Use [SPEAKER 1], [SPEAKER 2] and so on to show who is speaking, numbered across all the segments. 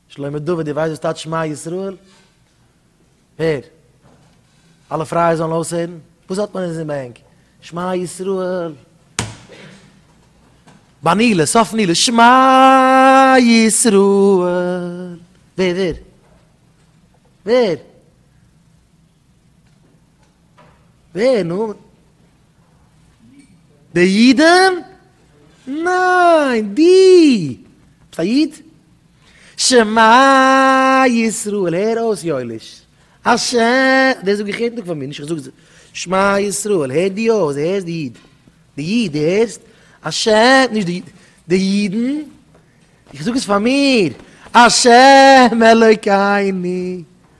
[SPEAKER 1] שלמה דוד די ווייסט וואס טייטש שמע ישראל? הער! אלע פרייע זאלן אויסהערן, וואס האט מען אונז אין בענק? שמע ישראל! ביי נילוס, סוף נילוס, שמע ישראל! ווער ווער? ווער? ווער נאר? די אידן? ניין! די! ביסט א איד? שמע ישראל, הער אויס יואליש, השם, דאס זאג איך יעדן טאג פאר מיר, נישט איך זאג עס, שמע ישראל, הער דיר אויס, די הערסט די איד? די איד, די הערסט? השם, נישט די איד, די אידן? איך זאג עס פאר מיר, השם אלוקינו,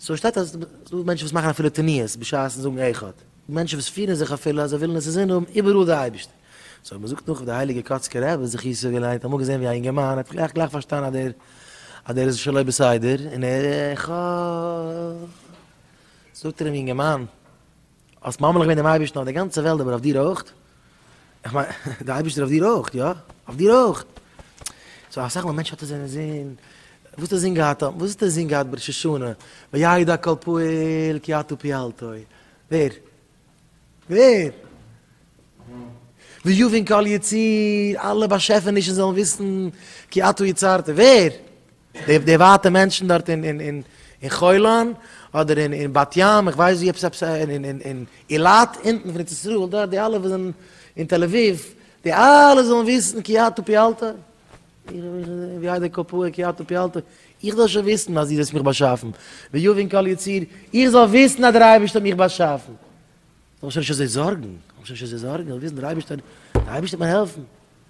[SPEAKER 1] סאו איך שטייט אז ס'דא מענטשן וואס מאכן אפילו תניעות בשעת'ן זאגן איכה ת, מענטשן וואס פירן זיך אפילו אז זיי ווילן עס אינזין האבן איבעראל די אייבערשטער, סאו מ'זאגט נאך ווי די הייליגע קאצקע רבי זכותו געלערנט האט אמאל געזען ווי א אינגערמאן האט גלייך גלייך פארשטאנען אז דער אז דער איז שלא בסדר און ער איכה ת, זאגט ער אים אינגערמאן, האסט ממליך געווען דעם אייבערשטן אויף די גאנצע וועלט אבער אויף דיר אויך, איך מיין דער אייבערשטער אויף דיר אויך, יא? אויף דיר אויך. סאו אסאך מאל מענטשן האט עס אין זין, וואס האט ער זין געהאט, וואס האט ער זין געהאט בראש השנה, וידע כל פועל כי אתה פעלתו, ווער? ווער? ויבין כל יציר, אלע באשעפענישן זאלן וויסן כי אתה יצרת, ווער? די ווייטע מענטשן דארט אין חולון אדער אין בת ים, איך ווייס ווי עפעס עפעס אין אילת אונטן פון ארץ ישראל דארט די אלע וואס זענען אין תל אביב די אלע זאלן וויסן כי אתה פיעלת ווי הייסט די קאפויער כי אתה פיעלת איך זאל שוין וויסן אז דו האסט מיך באשאפן ויבין כל יציר איך זאל וויסן אז דער אייבערשטער האט מיך באשאפן זאל איך שוין נישט אזוי זארגן זאל איך שוין נישט אזוי זארגן איך וויל וויסן דער אייבערשטער דער אייבערשטער וועט מיר העלפן.